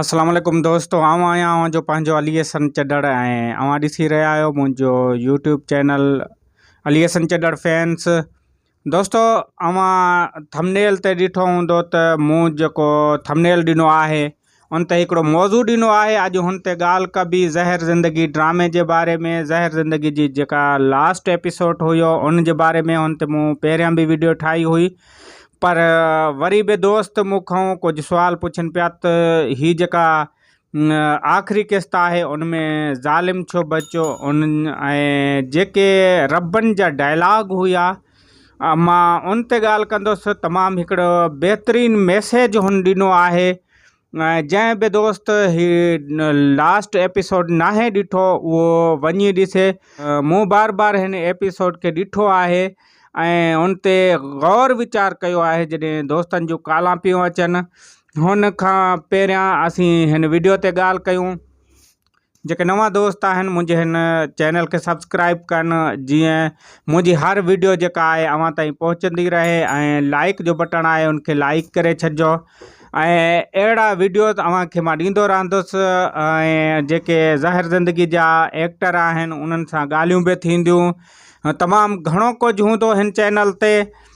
السلام عليڪم دوستو آئون آهيان اوهان جو پنهنجو علي حسن چڏڙ ۽ اوهان ڏسي رهيا آهيو منهنجو YouTube channel Ali Hassan Chhadar fans دوستو اوهان ٿمنيل تي ڏٺو هوندو ته مون جيڪو ٿمنيل ڏنو آهي ان تي هڪڙو موضوع ڏنو آهي اڄ هن تي ڳالهه ڪبي زهر زندگي ڊرامي جي باري ۾ زهر زندگي جي جيڪا لاسٽ ايپيسوڊ هيو ان جي باري ۾ هن تي مون پهريان به ويڊيو ٺاهي هئي پر وري به دوست مون کان ڪجهه سوال پڇن پيا ته هي جيڪا آخري قسط آهي ان ۾ ظالم ڇو بچيو ان ۽ جيڪي ربن جا ڊائلاگ هيا مان ان تي ڳالهه ڪندس تمام هڪڙو بهترين ميسيج هن ڏنو آهي جنهن به دوست هي لاسٽ ايپيسوڊ ناهي ڏٺو اهو وڃي ڏسي مون بار بار هن ايپيسوڊ کي ڏٺو آهي ۽ ان تي غور ويچار ڪيو آهي جڏهن دوستن جون ڪالان پيون اچن هن کان پهريان اسين هن ويڊيو تي ڳالهه ڪيون جيڪي نوان دوست آهن منهنجي هن چينل کي سبسڪرائب ڪن جيئن منهنجي هر ويڊيو جيڪا آهي اوهان تائين پهچندي رهي ۽ لائڪ جو بٽڻ آهي ان کي لائڪ ڪري ڇڏجو ۽ اهڙا ويڊيوز اوهان کي مان ڏيندو رهندس ۽ جيڪي ظاهر زندگي جا ايڪٽر آهن انهن سان ڳالهيون به ٿينديون تمام گهڻو ڪجهه هوندو هن چينل تي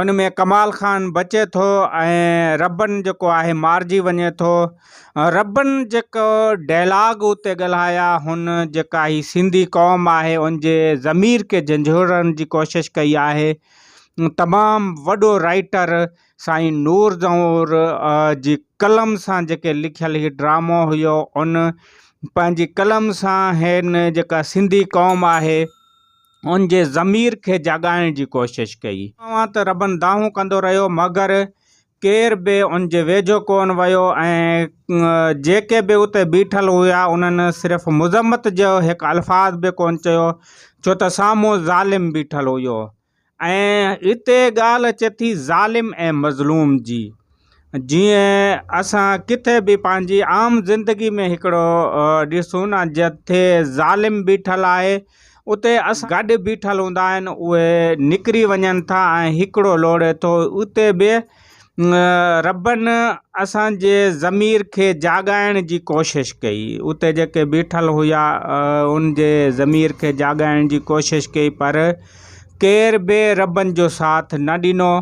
ان ۾ ڪمال خان بچي ٿو ۽ ربن جيڪو آهي مارجي وڃي ٿو ربن جيڪو ڊيلاگ اتي ڳالهايا هن جيڪا هي سنڌي قوم آهي ان جي ضمير کي جنجهوڙڻ جي ڪوشش ڪئي آهي تمام وڏو رائيٽر سائين نور زهور جي قلم سان جيڪي لکيل هي ڊرامو هيو ان پنهنجي قلم سان هن جيڪا سنڌي قوم آهي ان جي ضمير کي جاڳائڻ جي ڪوشش ڪئي. اوهان ته ربن دانهون ڪندو رهيو، مگر ڪير به ان جي ويجهو ڪونه ويو ۽ جيڪي به اتي بيٺل هيا، انهن صرف مذمت جو هڪ الفاظ به ڪونه چيو، ڇو ته سامهون ظالم بيٺل هيو. ۽ هتي ڳالهه اچي ٿي ظالم ۽ مظلوم جي. جيئن اسان ڪٿي به پنهنجي عام زندگي ۾ هڪڙو ڏسون نه جتي ظالم بيٺل آهي اتي اسان گڏ بيٺل هوندا آهن اهي نڪري وڃن ٿا ۽ هڪڙو لوڙي ٿو اتي به ربن اسان جي ضمير کي جاڳائڻ جي ڪوشش ڪئي اتي جيڪي بيٺل هيا ان جي ضمير کي جاڳائڻ جي ڪوشش ڪئي پر ڪير به ربن جو ساٿ نه ڏنو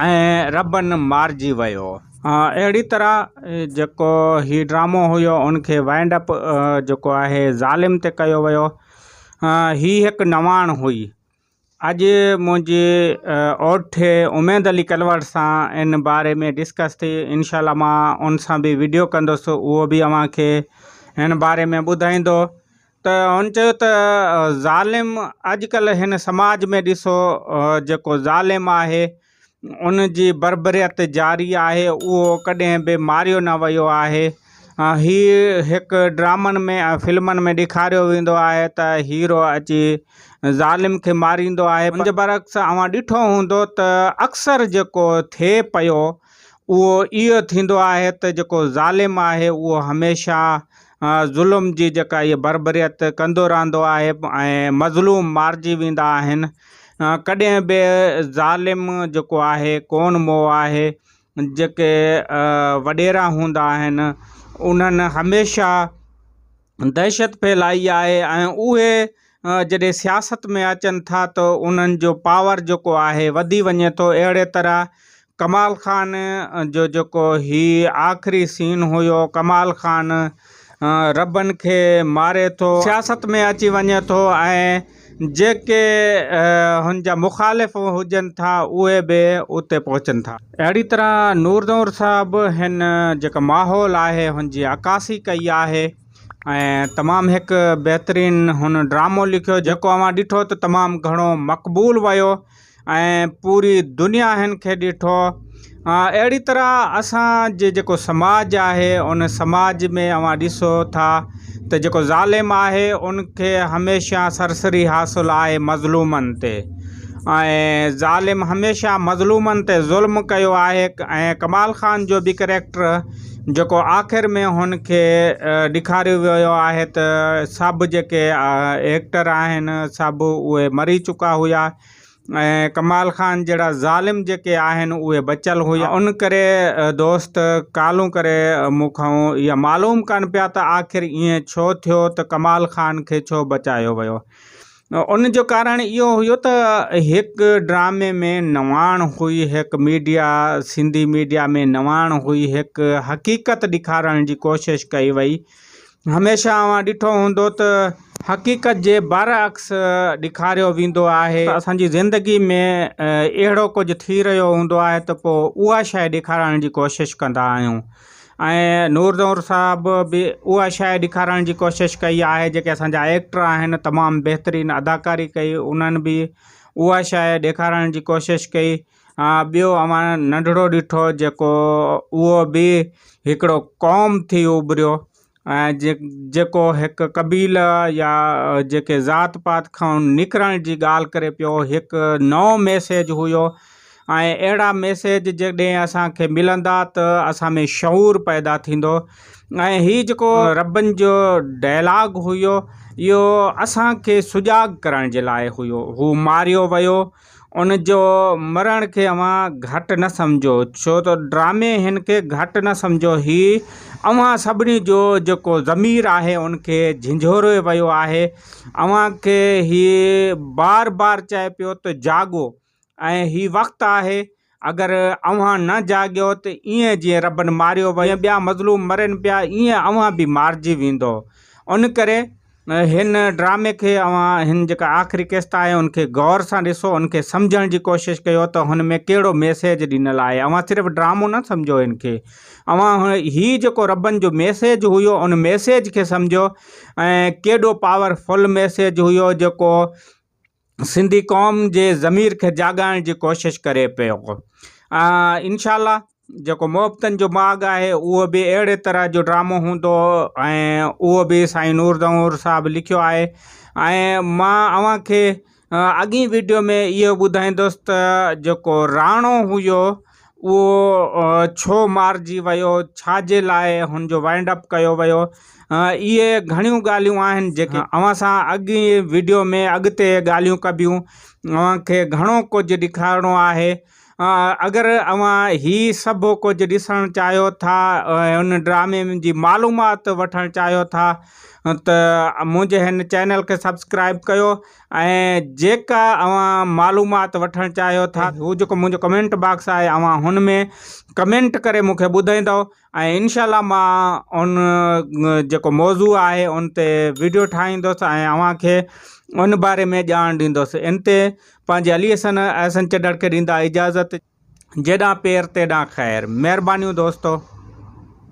۽ ربن مارجي ويو. اهڙي طرح جيڪو هي ڊرامو هيو ان کي وائنڊ اپ جيڪو آهي ظالم تي ڪيو ويو. هي هڪ نواڻ هئي. اڄ منهنجي اوٺي اميد علي ڪلوڙ سان ان باري ۾ ڊسڪس ٿي انشاء الله مان ان سان به وڊيو ڪندس اهو به اوهان کي ان باري ۾ ٻڌائيندو ته هن چيو ته ظالم اڄ ڪلهه هن سماج ۾ ڏسو جيڪو ظالم آهي ان جي بربريت جاري آهي اهو ڪڏهن به ماريو نه ويو آهي هي هڪ ڊرامن ۾ ۽ فلمن ۾ ڏيکاريو ويندو آهي ته هيرو اچي ظالم کي ماريندو آهي ان جي برعڪس اوهان ڏٺو هوندو ته اڪثر جيڪو ٿئي پيو اهو اهو ٿيندو آهي ته جيڪو ظالم آهي اهو هميشه ظلم جي جيڪا هي بربريت ڪندو رهندو آهي ۽ مظلوم مارجي ويندا آهن ڪڏهن به ظالم جيڪو آهي ڪون مئو آهي جيڪي وڏيرا هوندا آهن انهن هميشه دهشت ڦهلائي آهي ۽ اهي جڏهن سياست ۾ اچن ٿا ته انهن جو پاور جيڪو آهي وڌي وڃي ٿو اهڙي طرح ڪمال خان جو جيڪو هي آخري سين هيو ڪمال خان ربن کي ماري ٿو سياست ۾ اچي وڃي ٿو ۽ جيڪي هن جا مخالف هجن ٿا اهي به اتي پهچن ٿا. اهڙي طرح نور نور صاحب هن جيڪو ماحول آهي هن جي عڪاسي ڪئي آهي ۽ تمام هڪ بهترين هن ڊرامو لکيو جيڪو اوهان ڏٺو ته تمام گهڻو مقبول ويو ۽ پوري دنيا هن کي ڏٺو اهڙي طرح اسان جي جيڪو سماج آهي ان سماج ۾ اوهان ڏسو ٿا ته جيڪو ظالم آهي ان کي هميشه سرسري حاصل آهي مظلومن تي ۽ ظالم هميشه مظلومن تي ظلم ڪيو آهي ۽ ڪمال خان جو بي ڪريڪٽر جيڪو آخر ۾ هن کي ڏيکاريو ويو آهي ته سڀ جيڪي ايڪٽر آهن سڀ اهي مري چڪا هيا ۽ ڪمال خان جهڙا ظالم جيڪي آهن اهي بچيل هيا ان ڪري دوست ڪالهون ڪري مون کان اها معلوم ڪن پيا ته آخر ائين ڇو ٿيو ته ڪمال خان کي ڇو بچايو ويو. ان جو ڪارڻ اهو هيو ته هڪ ڊرامي ۾ نواڻ هئي هڪ ميڊيا سنڌي ميڊيا ۾ نواڻ هئي هڪ حقيقت ڏيکارڻ جي ڪوشش ڪئي وئي هميشه اوهان ڏٺو هوندو ته حقيقت جي بر عڪس ڏيکاريو ويندو آهي اسان جي زندگي ۾ اهڙو ڪجهه ٿي رهيو هوندو آهي ته پوء اها شيء ڏيکارڻ جي ڪوشش ڪندا آهيون ۽ نور نور صاحب به اها شاء ڏيکارڻ جي ڪوشش ڪئي آهي جيڪي اسانجا ايڪٽر آهن تمام بهترين اداڪاري ڪئي انهن به اها شاء ڏيکارڻ جي ڪوشش ڪئي ٻيو اوهان ننڍڙو ڏٺو جيڪو اهو به هڪڙو قوم ٿي اڀريو ۽ جيڪو هڪ قبيلي يا جيڪي ذات پات کان نڪرڻ جي ڳالهه ڪري پيو هڪ نئون ميسيج هيو ۽ اهڙا ميسيج جڏهن اسان کي ملندا ته اسان ۾ شعور پيدا ٿيندو ۽ هي جيڪو ربن جو ڊائلاگ هيو اهو اسان کي سجاڳ ڪرڻ جي لاء هيو هو ماريو ويو ان جو مرڻ کي اوهان گهٽ نه سمجهو ڇو ته ڊرامي هن کي گهٽ نه سمجهو هي اوهان سڀني جو جيڪو ضمير آهي ان کي جهنجهوري ويو آهي اوهان کي هي بار بار چئي پيو ته جاڳو ۽ هي وقت آهي اگر اوهان نه جاڳيو ته ايئن جيئن ربن ماريو ويو، جيئن ٻيا مظلوم مرين پيا، ايئن اوهان به مارجي ويندؤ. ان ڪري هن ڊرامي کي اوهان هن جيڪا آخري قسط آهي ان کي غور سان ڏسو، ان کي سمجهڻ جي ڪوشش ڪيو ته هن ۾ ڪهڙو ميسيج ڏنل آهي. اوهان صرف ڊرامو نه سمجهو هن کي، اوهان هي جيڪو ربن جو ميسيج هيو ان ميسيج کي سمجهو ۽ ڪيڏو پاور فل ميسيج هيو جيڪو سنڌي قوم جي ضمير کي جاڳائڻ جي ڪوشش ڪري پيو انشاء الله جيڪو محبتن جو ماڳ آهي اهو به اهڙي طرح جو ڊرامو هوندو ۽ اهو به سائين نور دنور صاحب لکيو آهي ۽ ما اوهان کي اڳئين ويڊيو ۾ اهو ٻڌائيندس ته جيڪو راڻو هيو اهو ڇو مارجي ويو، ڇا جي لاء هن جو وائنڊ اپ ڪيو ويو، اهي گهڻيون ڳالهيون آهن جيڪي اوهان سان اڳين وڊيو ۾ اڳتي ڳالهيون ڪبيون، اوهان کي گهڻو ڪجهه ڏيکارڻو آهي، اگر اوهان هي سڀ ڪجهه ڏسڻ چاهيو ٿا ۽ هن ڊرامي جي معلومات وٺڻ چاهيو ٿا ته منهنجي هن چينل کي سبسڪرائيب ڪيو ۽ جيڪا اوهان معلومات وٺڻ چاهيو ٿا هو جيڪو منهنجو ڪمينٽ باڪس آهي اوهان هن ۾ ڪمينٽ ڪري مون کي ٻڌائيندو ۽ انشاء الله مان ان جيڪو موضوع آهي ان تي ويڊيو ٺاهيندس ۽ اوهان کي ان باري ۾ ڄاڻ ڏيندس ان تي پنهنجي علي حسن احسن چڏڙ کي ڏيندا اجازت جيڏانهن پير تيڏانهن خير مهربانيون دوستو.